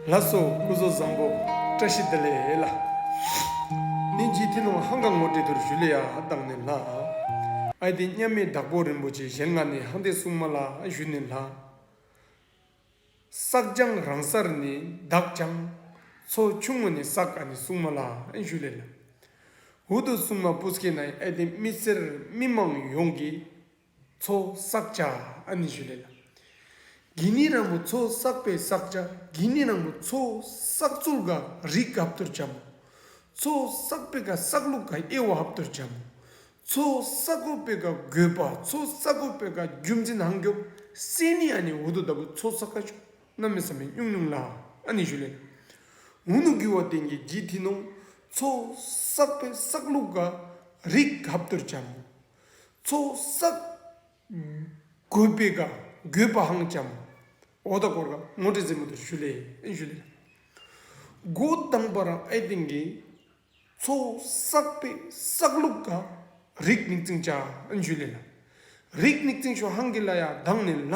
ལ་སོགས་སྐུ་བཟོ་བཟང་པོ་བཀྲ་ཤིས་བདེ་ལེགས་ལ། ནི་ཇི་ཐི་ནུང་ཧང་གང་ངོ་སྤྲད་དུར་བཞུ་ལི་ཡ་བཏང་ནས་ལ། ཨའི་ཏི་མཉམ་མེད་བདག་པོ་རིན་པོ་ཆེ་ཞལ་སྔ་ནས་ཧང་ཏེ་སྲུང་མ་ལ་བཞུ་ནས་ལ། བསགས་སྦྱངས་རང་སར་ནི་བདག་སྦྱངས། ཚོ་ཆུང་ངུ་ནས་བསགས་ཀ་ནི་སྲུང་མ་ལ་བཞུ་ལེ་ལ། འུ་ཏུ་སྲུང་མ་པུ་སྐེ་ནའི་ཨའི་ཏི་དམིས་བསལ་མི་མང་ཡོངས་ཀྱིས། མཚོ་བསགས་བྱ་ཨ་ནི་ཞུ་ལེ་ལ། གི་ནི་རང་མོ་མཚོ་བསགས་པའི་བསགས་བྱ་གི་ནི་རང་མོ་མཚོ་བསགས་ཚུལ་ག་རིགས་ག་བཏུར་བྱ་མོ། མཚོ་བསགས་པའི་ག་བསགས་ལུགས་ག་དབྱེ་བ་ཧབ་བཏུར་བྱ་མོ། མཚོ་བསགས་གོ་པའི་ག་དགོས་པ་མཚོ་བསགས་གོ་པའི་ག་རྒྱུ་མཚན་ཧང་རྒྱོབ་སེ་ནི་ཨ་ནི་འུ་དུ་ད་བུ་མཚོ་བསགས་ག་ཆུ་སྣ་མི་བསམ་མི་སྙུང་སྙུང་ལ་ཨ་ནི་ཞུ་ལེ་ལ། འུ་ནུ་གུ་བ་བསྟན་གྱི་གི་དྷི་ནོང་མཚོ་བསགས་པའི་བསགས་ལུགས་ག་རིགས་ག་བཏུར་བྱ་མོ། ཚོགས་བསགས། གུས་པས་དགའ་གུས་པའང་བྱམས། འོ་ད་གོར་ཁ་ངོ་སྤྲད་རྩེ་མོ་དེར་ཞུ་ལེ། སྒོ་བསྡམས་པ་རང་ཨེ་དེང་གི། ཚོགས་བསགས་པས་བསགས་ལུགས་དགའ། རིགས་མིག་ཙིང་བྱ་ཨེ་ཞུ་ལེ། རིགས་མིག་ཙིང་ཞོ་ཧང་གི་ལ་ཡ་གདངས་ནས་ལྷ།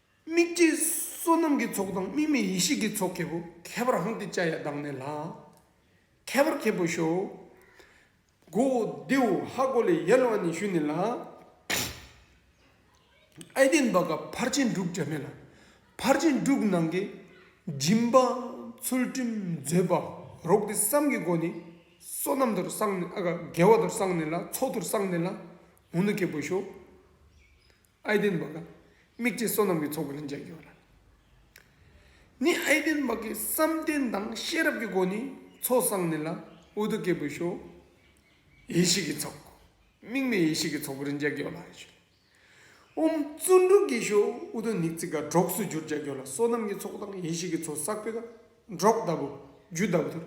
དམིགས་བཅས་བསོད་ནམས་ཀྱི་ཚོགས་དང་དམིགས་མེད་ཡེ་ཤེས་ཀྱི་ཚོགས་ཁྱེད་པོ། ཁྱད་པར་ཧཱུྃ་ཏི་ཅཱ་ཡ་བདག་ནི་ལྷ། ཁྱད་པར་ཁྱེད་པོ་ཤོག། གོ་བོ་ལྡེའུ་ཧཱ་གོ་ལའི་ཡལ་བ་ནི་ཤུ་ནི་ལ། ཨའི་ལྡན་བ་ག་ཕར་ཕྱིན་དྲུག་བྱ་མེད་ལ། ཕར་ཕྱིན་དྲུག་ནང་གི་སྦྱིན་པ་ཚུལ་ཁྲིམས་མཛོད་པ་རོག་ཏི་བསམ་གྱི་སྒོ་ནི། བསོད་ནམས་དུར་བསངས་ནི་ཨ་ག་དགེ་བ་དུར་བསངས་ནི་ལ་མཚོ་དུར་བསངས་ནི་ལ། འུ་ནི་ཁྱེད་པོ་ཤོག། ཨའི་དན་བྷ་ག། དམིགས་བྱའི་བསོད་ནམས་ཀྱི་ཚོགས་ཀྱི་རིན་ཆེན་སྦྱོར་བ། ནི་ཨའི་དན་བྷ་གའི་བསམ་གཏན་དང་ཤེས་རབ་ཀྱི་སྒོ་ནས་ཚོགས་བསགས་ནས་ལ་ཨུ་དུ་ཀའི་བུ་ཤོ་ཡེ་ཤེས་ཀྱི་ཚོགས། དམིགས་མེད་ཡེ་ཤེས་ཀྱི་ཚོགས་ཀྱི་རིན་ཆེན་སྦྱོར་ལ་ཨའི་ཤོ། ཨོམ་བཙུན་དྲུག་གི་ཤོ་ཨུ་དུ་ནིག་ཙི་ཀ་གྲོགས་སུ་གྱུར་བྱ་སྦྱོར་ལ་བསོད་ནམས་ཀྱི་ཚོགས་དང་ཡེ་ཤེས་ཀྱི་ཚོགས་བསགས་པས་ཀ་གྲོགས་ལྟ་བུ་རྒྱུ་ལྟ་བུ་དུ་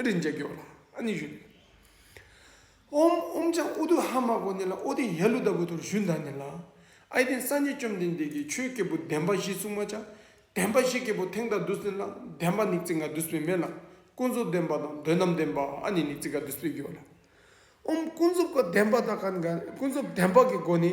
རིན་ཆེན་སྦྱོར་ལ་ཨ་ནི་ཤོ། ཨོམ་ཨོམ་ཅག་ཨུ་དུ་ཧ་མ་གོ་ནི་ལ་ཨོ་དི་ཡ་ལུ་ད་བུ་དོར་ཞུན་ད་ནི་ལ། ཨཱི་དེང་སངས་རྒྱས་བཅོམ་ལྡན་འདས་ཀྱིས་ཆོས་སྐྱེས་བུ་བདེན་པ་བཞི་གསུང་མ་ཅག། བདེན་པ་བཞི་སྐྱེས་བུ་ཐེང་ད་དུས་ནི་ལ་བདེན་པ་ནིག་ཙི་ང་དུས་པའི་མེ་ལ། ཀུན་རྫོབ་བདེན་པ་དང་དོན་དམ་བདེན་པ་ཨ་ནི་ནིག་ཙི་ག་དུས་པའི་རྒྱུ་བ་ལ། ཨོམ་ཀུན་རྫོབ་ཀ་བདེན་པ་ད་ག་ནི་ག་ཀུན་རྫོབ་བདེན་པ་ཀི་སྒོ་ནི།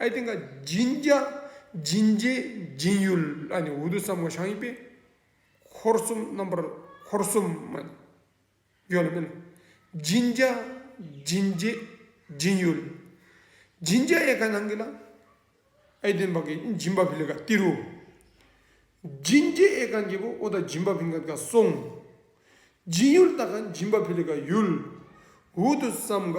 ཨའི་སྟེང་ཀ་སྦྱིན་བརྒྱ། སྦྱིན་བརྒྱད། སྦྱིན་ཡུལ་ཨ་ནི་འུ་དུ་ཙམ་མོ་ཞང་ཡིན་པས། འཁོར་གསུམ་རྣམ་པར་འཁོར་གསུམ་མ། ཡོད་ལ་མིན། སྦྱིན་བརྒྱ། སྦྱིན་བརྒྱད། སྦྱིན་ཡུལ། སྦྱིན་བརྒྱ་ཡེ་ཀ་ནང་གི་ལ། ཨའི་སྟེང་བ་ཀའི་སྦྱིན་པ་བི་ལི་ཀ་ཏི་རུ། སྦྱིན་བརྒྱད་ཨེ་ཀ་འགྱེད་པོ་ཨོ་ད་སྦྱིན་པ་བི་ཀ་ཏི་ཀ་སོང། སྦྱིན་ཡུལ་ཏ་ཀ་སྦྱིན་པ་བི་ལི་ཀ་ཡུལ། འུ་དུ་ཙམ་ཀ།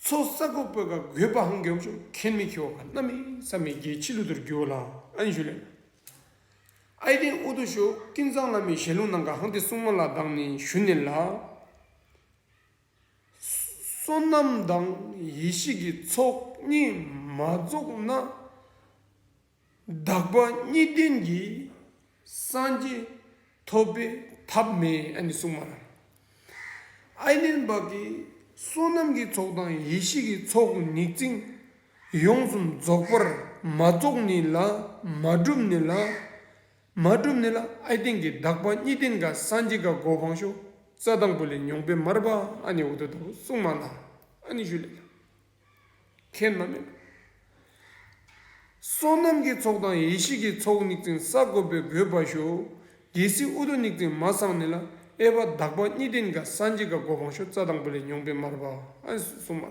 ཚོགས་བསགས་སྒོ་སྤོས་ཀ་གོས་སྤ་ཧང་གྱོང་ཆོ་གས་མི་ཁྱོ་ག་ནམ་ཡིན་བསམ་མེད་རྒྱལ་ཕྱི་ལུ་དུར་རྒྱུ་ལ་ཨན་ཞུ་ལེན། ཨའི་སྟེང་ཨུ་དུ་ཞོ་ཀིན་ཚང་བླ་མའི་ཞལ་ལུང་ནང་ག་ཧང་ཏི་སྲུང་མ་ལ་གདང་ནས་ཞུ་ནས་ལ། བསོད་ནམས་དང་ཡེ་ཤེས་ཀྱི་ཚོགས་གཉིས་མ་རྫོགས་ན། དག་པ་གཉིས་ལྡན་གྱི་སངས་རྒྱས་ཐོབ་པའི་ཐབས་མེད་གསུངས་པ་དང། ཨཱི་ལེན་བག་གི་བསོད་ནམས་ཀྱི་ཚོགས་དང་ཡེ་ཤེས་ཀྱི་ཚོགས་ནི་རྩིང། ཡོངས་སུ་རྫོགས་པར་མ་རྫོགས་ནི་ལ་མ་གྲུབ་ནི་ལ་མ་གྲུབ་ནི་ལ་ཨཱི་ལྡན་གྱི་དག་པ་གཉིས་ལྡན་ག་སངས་རྒྱས་ག་གོ་འཕང་ཤོག་རྩ་དང་པོ་ལས་མྱོང་པའི་མར་པ་ཨཱ་ནི་འོ་དོད་དོ་གསུངས་པ་དང་ཨཱ་ནི་ཞུ་ལེ་ལ། ཁྱེད་རྣམས། བསོད་ནམས་ཀྱི་ཚོགས་དང་ཡེ་ཤེས་ཀྱི་ཚོགས་སྙིགས་ཅན་ས་བཀོད་པའི་བུས་པར་ཤོག། རྒྱལ་སྲིད་ཨུ་དུ་སྙིགས་ཅན་མ་སངས་ནས་ལ་ཨེ་བ་དྭགས་པ་གཉིས་ལྡན་ག་ས་འཇིགས་ག་གོ་བང་ཤོག་རྩ་དང་པོ་ལས་མྱོང་པའི་མར་བསུ་མ།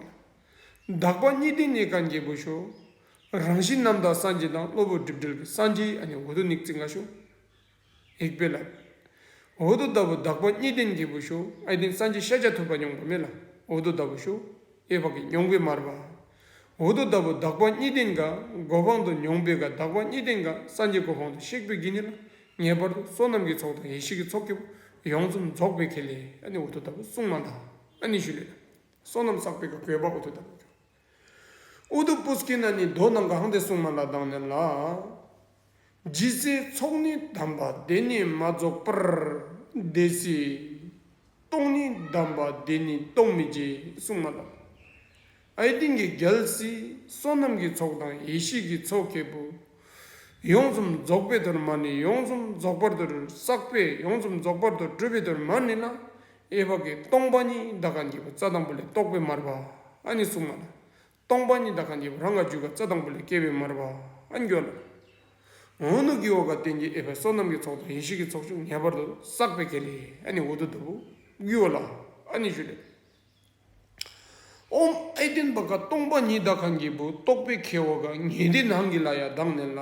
དྭགས་པ་གཉིས་ལྡན་ནས་ག་འགྱེད་པོ་ཤོག། རང་བཞིན་རྣམ་དག་སངས་རྒྱས་དང་གློ་བུར་སྒྲིབ་བྲལ་གྱི་སངས་རྒྱས་ཨ་ནི་ཨུ་དུ་སྙིགས་ཅན་ག་ཤོག། ཡིག་དཔེ་ལ། འོ་དོ་ད་བུ་བདག་པོ་གཉིས་ལྡན་གྱི་བུ་ཤུ་ཨའི་ཏིང་སང་གཅིག་ཤ་ཆ་ཐུབ་པ་མྱོང་པ་མེད་ལ་འོ་དོ་ད་བུ་ཤུ་ཨའི་བག་གི་མྱོང་པའི་མར་བ། འོ་དོ་ད་བུ་བདག་པོ་གཉིས་ལྡན་ག་གོ་འཕང་དུ་མྱོང་པའི་ག་བདག་པོ་གཉིས་ལྡན་ག་སངས་རྒྱས་གོ་འཕང་དུ་གཤེགས་པའི་གི་ནི་ལ་ངེས་པར་དུ་བསོད་ནམས་ཀྱི་ཚོགས་དང་ཡེ་ཤེས་ཀྱི་ཚོགས་སྐྱེ་བོ་ཡོངས་སུ་རྫོགས་པའི་གི་ལས་ཨ་ནི་འོ་དོ་ད་བུ་སྲུང་མ་དང་ཨ་ནི་ཞུ་ལས་ལ། བསོད་ནམས་བསགས་པའི་ག་གོས་པ་འོ་དོ་ད་བུ་ཤུ་ཨུ་དུ་པུ་སྐེ་ན་ནི་རྡོ་དང་གང་དེ་སྲུང་མ་ལ་བཏང་ནས་ལགས། ཇི་སྲིད་ཚོགས་ནི་བསྡམས་པ་དེ་ནི་མ་རྫོགས་པར་དེ་སྲིད་སྟོང་ནི་བསྡམས་པ་དེ་ནི་སྟོང་མི་བྱེད་སྲུང་མ་ལགས། ཨའི་ཏིང་གི་རྒྱལ་སྲིད་བསོད་ནམས་ཀྱི་ཚོགས་དང་ཡེ་ཤེས་ཀྱི་ཚོགས་ཁེ་བུ། ཡོངས་སུམ་རྫོགས་པའི་དོར་མ་ནི་ཡོངས་སུམ་རྫོགས་པར་དུ་བསགས་པས་ཡོངས་སུམ་རྫོགས་པར་དུ་སྤྲུལ་པའི་དོར་མ་ནི་ལ་ཨེ་བ་ཀའི་སྟོང་པ་ཉིད་འདའ་ཀ་འགྱེད་པ་རྩ་དང་པོ་ལས་རྟོགས་པའི་མར་བ་ཨ་ནི་གཟུགས་མ་ལ། སྟོང་པ་ཉིད་འདའ་ཀ་འགྱེད་པ་རང་ག་འཇུག་ག་རྩ་དང་པོ་ལས་སྐྱེ་བའི་མར་བ་ཨ་འགྱོད་ལ། ངོ་ནུ་ཀི་བ་ཀ་རྟེན་གྱི་ཨེ་བའི་སོ་ནམ་གྱི་ཚོགས་དང་ཡེ་ཤེས་ཀྱི་ཚོགས་ཆུང་ངེས་པར་དུ་བསགས་པའི་གེ་ལས་ཨ་ནི་འོ་དོ་དོ་བུ་གུའོ་ལ་ཨ་ནི་ཞུ་ལས། ཨོམ་ཨེ་བརྟེན་པ་ཀ་སྟོང་པ་ཉིད་འདའ་ཀ་འགྱེད་པུ་རྟོགས་པའི་གེ་བ་ཀ་ངེས་འདི་ནང་གི་ལ་ཡ་གདངས་ནས་ལ།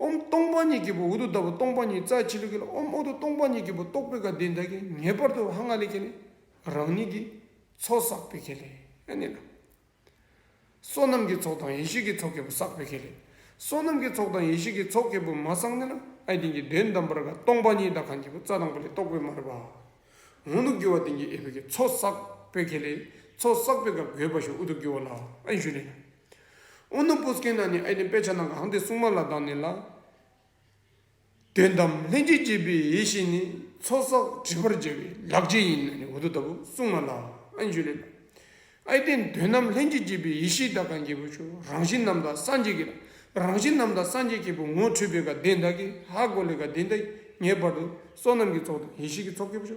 ཨོམ་སྟོང་པ་ཉིད་ཀྱི་བུ་འུ་དུ་བདག་པོ་སྟོང་པ་ཉིད་རྩ་ཆེན་པོའི་གེ་ལ་ཨོམ་འུ་དུ་སྟོང་པ་ཉིད་ཀྱི་བུ་རྟོག་པའི་ག་དེ་བདག་གིས་ངེས་པར་དུ་ཧ་ང་ལས་སྐྱེས་ནས་རང་ཉིད་ཀྱིས་ཚོགས་བསགས་པའི་གེ་ལས་ནི་ལ། བསོད་ནམས་ཀྱི་ཚོགས་དང་ཡེ་ཤེས་ཀྱི་ཚོགས་གེ་བུ་བསགས་པའི་གེ་ལས་བསོད་ནམས་ཀྱི་ཚོགས་དང་ཡེ་ཤེས་ཀྱི་ཚོགས་གེ་བུ་མ་བསགས་ནི་ལ་ཨའི་དེང་གི་དོན་དམ་པར་ག་སྟོང་པ་ཉིད་བདག་གང་གི་བུ་རྩ་དང་པོ་ལས་རྟོག་པའི་མ་རིག་པ་འུ་དུ་རྒྱུ་བ་དེང་གི་ཨེ་བུ་གིས་ཚོགས་བསགས་པའི་གེ་ལས་ཚོགས་བསགས་པའི་ག་དགོས་པ་ཞིག་འུ་དུ་རྒྱུ་བ་ལ་ཨའི་ཞུ་ལས་ལ། ཨོ་ནུ་པོ་སྐེ་ན་ནི་ཨའི་ནི་དཔེ་ཆ་ནང་གི་ཧང་དེ་སྲུང་མ་ལ་དང་ནི་ལ། དོན་དམ་ལྷན་ཅིག་སྐྱེས་པའི་ཡེ་ཤེས་ནི་ཚོགས་བསགས་བྲི་བར་བྱ་བའི་ལག་རྗེས་ཡིན་ནོ་ནི་འོ་དོ་ད་བུ་སྲུང་མ་ལ་ཨན་བཞུ་ལེ་ལ། ཨའི་དེ་དོན་དམ་ལྷན་ཅིག་སྐྱེས་པའི་ཡེ་ཤེས་དག་གང་གི་བུ་ཆུ་རང་བཞིན་རྣམས་དག་སངས་རྒྱས་ཀྱི་ལ་རང་བཞིན་རྣམས་དག་སངས་རྒྱས་ཀྱི་བུ་ངོ་འཕྲོད་པའི་དགའ་ལྡན་དག་གིས་ཧ་གོ་ལའི་དགའ་ལྡན་དག་ངེས་པར་དུ་བསོད་ནམས་ཀྱི་ཚོགས་དང་ཡེ་ཤེས་ཀྱི་ཚོགས་ཀྱི་བུ་ཆུ